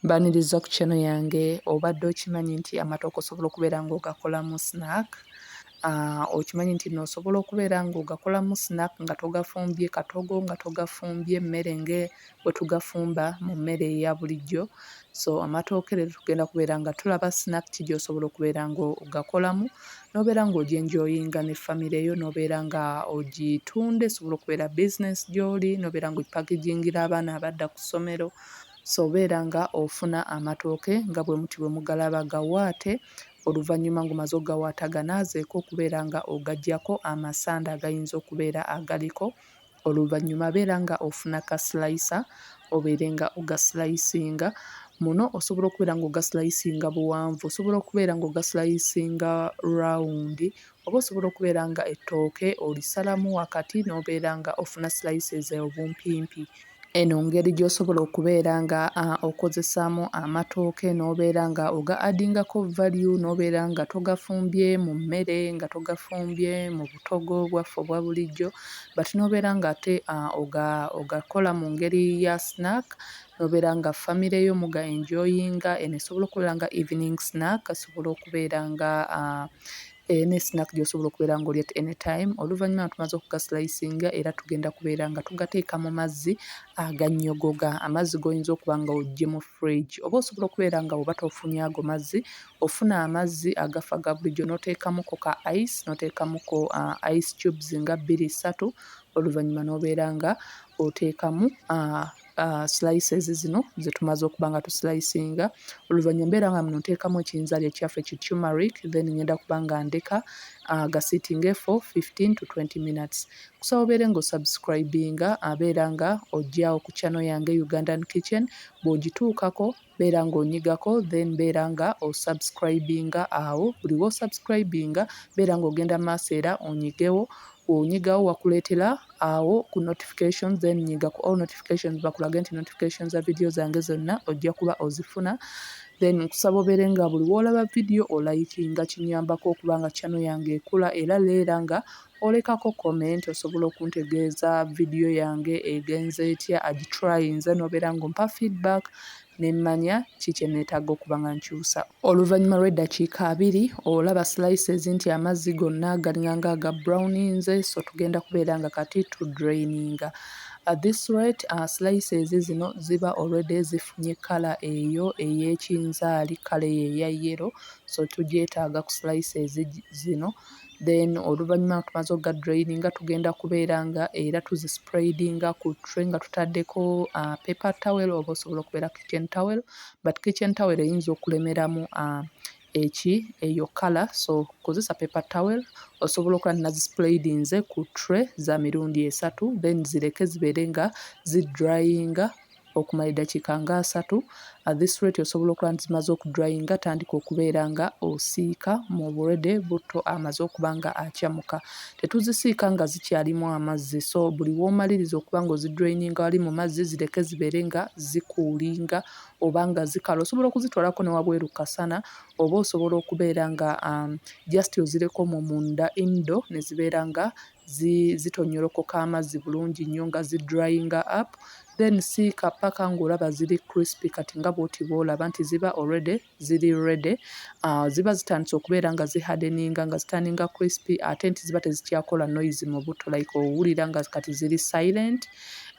Mbaniriza ku channel yange obadde okimanyi nti amatooke osobola okubeera nga ogakolamu snack aah okimanyi nti no osobola okubeera nga ogakolamu snack nga togafumbye katogo nga togafumbye mmere nge bwetugafumba mu mmere eya bulijjo so amatooke leero tugenda kubeera nga tulaba snack ki gyosobola okubeera nga ogakolamu nobeera nga oje enjoyinga ne famire yo nobeera nga ogitunda esobola okubeera business gyoli nobeera nga ogipakegingira abaana abadda ku ssomero. So beera nga ofuna amatooke nga bwe muti bwe mugalaba, gawaate oluvannyuma ng'omaze okugawaata ganaazeeko okubeera nga ogaggyako amasanda agayinza okubeera agaliko oluvannyuma beera nga ofuna ka silayisa obeere nga ogasilayisinga. Muno osobola okubeera ng'ogasilayisinga buwanvu, osobola okubeera ng'ogasilayisinga rawundi Oba osobola okubeera nga ettooke olisalamu wakati n'obeera nga ofuna slices obumpimpi. Eno ngeri gy'osobola okubeera nga okozesaamu amatooke n'obeera nga oga adingako value n'obeera nga togafumbye mu mmere, nga togafumbye mu butogo bwaffe obwa bulijjo but n'obeera nga ate ogakola mu ngeri ya snack nobeera nga famire yo muga enjoyinga eno esobola okubeera nga evening snack esobola okubeera nga uh, eh, ne snack gyosobola okubeera nga oli at any time oluvannyuma nga tumaze okugaslicinga era tugenda kubeera nga tugateeka mu mazzi aganyogoga amazzi goyinza okuba nga ojje mu fridge oba osobola okubeera nga oba tofunye ago mazzi ofuna amazzi agafa ga bulijjo noteekamuko ka ice noteekamuko uh, ice tubes nga bbiri ssatu oluvannyuma nobeera nga oteekamu uh, uh, slices zino ze tumaze okuba nga tuslicinga oluvannyuma mbeera nga muno nteekamu ekiyinzaali ekyaffe ki tumeric then ngenda kuba nga ndeka uh, gasitinge fo 15 to 20 minutes kusaba obeere nga osubscribinga abeera nga ojja okukyano yange ugandan kitchen bw'ogituukako beera nga onyigako then beera nga osubscribinga awo buli wosubscribinga beera nga ogenda maaso era onyigewo onyigawo wakuleetera awo ku notifications then nyiga ku all notifications bakulage nti notification za vidiyo zange zonna ojja kuba ozifuna then nkusaba obeere nga buli woolaba vidiyo olayikinga kinyambako okubanga chano yange ekula era leera nga Olekako comment osobola okuntegeeza video yange egenze etya agitrayinze nobeera nga ompa feedback nemmanya ki kyenetaaga okuba nga nkyusa. Oluvanyuma lw'eddakiika abiri olaba slices nti amazzi gonna galinganga aga browninze so tugenda kubeera nga kati tu draininga. At this rate uh, slices zino ziba already zifunye kala eyo ey'ekinzaali kala eyo eya yellow so tugyetaaga ku slices zino then oluvannyuma nga tumaze okugadrayininga tugenda kubeera nga era tuzispraidinga ku tray nga tutaddeko uh, paper towel oba osobola okubeera kitchen towel but kitchen towel eyinza okulemeramu uh, eki eyo kala so kozesa paper towel osobola okuba nazispraidinze ku tray za mirundi esatu then zireke zibeere nga zidryinga okumala eddakiika nga asatu, at this rate osobola okuba nti zimaze okudryinga tandika okubeera nga osiika mu burede butto amaze okuba nga akyamuka. Tetuzisiika nga zikyalimu amazzi so buli w'omaliriza okuba nga ozidraininga wali mu mazzi zireke zibeere nga zikuulinga oba nga zikala. Osobola okuzitwalako ne wabweru kasana oba osobola okubeera nga um, just ozireko omwo munda indoor ne zibeera nga zitonyolokoka amazzi bulungi nnyo nga zi dryinga up then siika paka ng'olaba ziri crispy kati nga bwoti bwolaba nti ziba already ziri ready uh, ziba zitandise okubeera nga zi hardeninga nga zitaninga crispy ate nti ziba tezikyakola noise mu butto like owulira nga kati ziri silent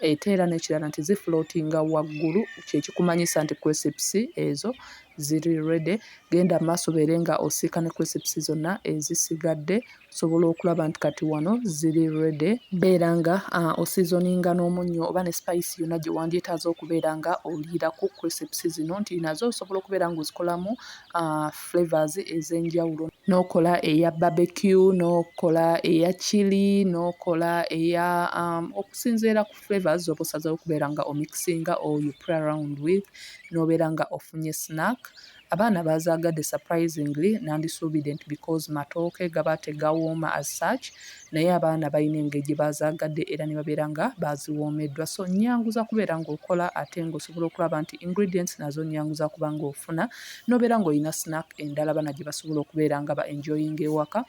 ate era n'ekirala nti zi floatinga waggulu kyekikumanyisa nti crisps ezo ziri ready genda maaso beere nga osiika ne crisps zonna ezisigadde osobola okulaba nti kati wano ziri rede beera nga uh, osizoninga n'omunnyo oba ne spice yonna gye wandyetaaza okubeera nga oliira ku crisps zino nti nazo osobola okubeera nga ozikolamu uh, flavors ez'enjawulo n'okola eya barbecue n'okola eya chili n'okola eya um, okusinziira ku flavors zoba osazewo okubeera nga omixinga or you play around with n'obeera nga ofunye snack Abaana baazaagadde surprisingly nandisuubidde nti because matooke gaba tegawooma as such naye abaana balina engeri gye baazaagadde era ne babeera nga baaziwoomeddwa so nnyangu za kubeera ng'okola ate ng'osobola okulaba nti ingredients nazo nnyangu za kuba ng'ofuna n'obeera ng'olina snack endala bana gye basobola okubeera nga ba enjoying ewaka.